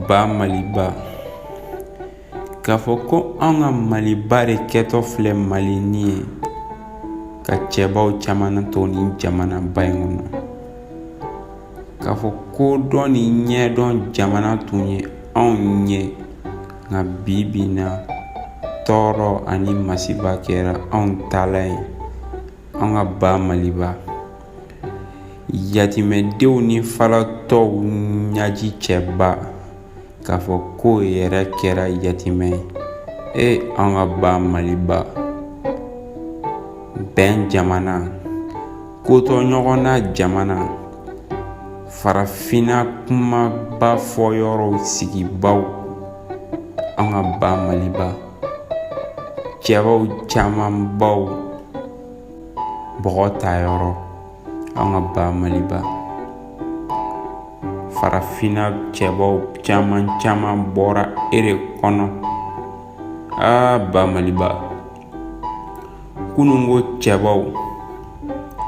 Ba maliba k'a fɔ ko an ka maliba de kɛtɔ filɛ malinin ye ka cɛbaw caman to nin jamanaba in kɔnɔ k'a fɔ ko dɔn ni ɲɛdɔn jamana tun ye anw ye nka bi bi na tɔɔrɔ ani masiba kɛra anw taalan ye an ka ba maliba yatimɛdenw ni falatɔw ɲaji cɛba k'a fɔ k'o yɛrɛ kɛra yatimɛ ye e an ka ba maliba bɛn jamana ko to ɲɔgɔn na jamana farafinna kumaba fɔ yɔrɔw sigibaw an ka ba maliba cɛbaw camanbaw bɔgɔ ta yɔrɔ an ka ba maliba farafinna cɛbaw caman caman bɔra e de kɔnɔ aa ba maliba kununko cɛbaw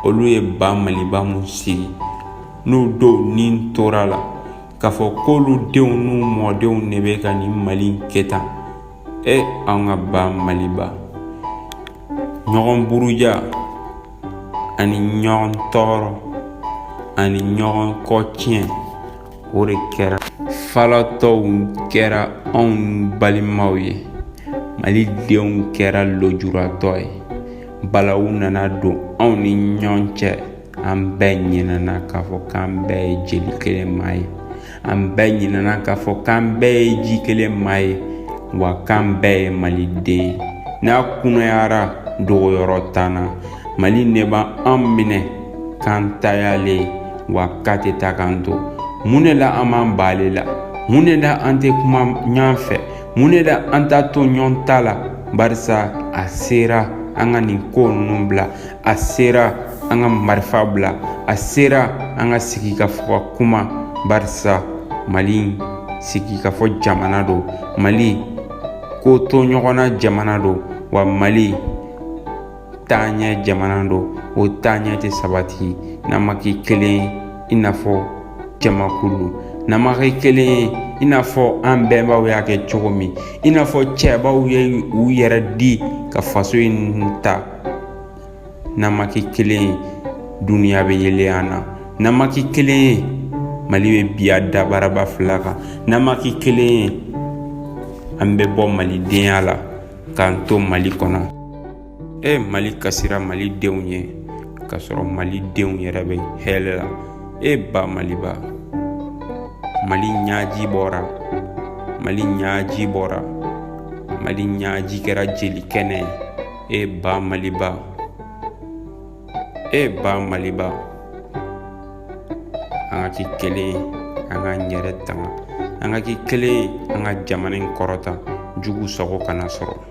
olu ye ba maliba mun sigi n'u dɔw ni tora a la k'a fɔ k'olu denw n'u mɔdenw de bɛ ka nin mali in kɛ tan e an ka ba maliba ɲɔgɔn buruja ani ɲɔgɔn tɔɔrɔ ani ɲɔgɔn kɔ tiɲɛ o de kɛra falatɔw kɛra anw balimaw ye mali denw kɛra lojuratɔ ye balawu nana don anw ni ɲɔgɔn cɛ an bɛɛ ɲinɛna k'a fɔ k'an bɛɛ ye jeli kelen maa ye an bɛɛ ɲinɛna k'a fɔ k'an bɛɛ ye ji kelen maa ye wa k'an bɛɛ ye maliden ye n'a kunayara dogoyɔrɔ t'an na mali de b'an minɛ k'an ta y'ale ye wa k'a tɛ taa k'an to mun de la an b'an ban ale la mun de la an tɛ kuma ɲɔgɔn fɛ mun de la an t'a to ɲɔgɔn ta la barisa a sera an ka nin ko ninnu bila a sera an ka marifa bila a sera an ka sigi ka fɔ ka kuma barisa mali sigi ka fɔ jamana don mali ko to ɲɔgɔnna jamana don wa mali taaɲɛ jamana don o taaɲɛ tɛ sabati n'an ma kɛ kelen ye i n'a fɔ jamakulu n'an ma kɛ kelen ye i n'a fɔ an bɛnbaw y'a kɛ cogo min i n'a fɔ cɛbaw ye u yɛrɛ di ka faso in ta n'an ma kɛ kelen ye duniya bɛ yɛlɛ an na n'an ma kɛ kelen ye mali bɛ bin a dabaraba fila kan n'an ma kɛ kelen ye an bɛ bɔ malidenya la k'an to mali kɔnɔ e mali kasira malidenw ye k'a sɔrɔ malidenw yɛrɛ bɛ hɛrɛ la e ba maliba mali ɲaji bɔra mali ɲaji bɔra mali ɲaji kɛra jeli kɛnɛ ye e ba maliba e ba maliba an ka kɛ kelen an k'an yɛrɛ tanga an ka kɛ kelen an ka jamana in kɔrɔta jugu sago kana sɔrɔ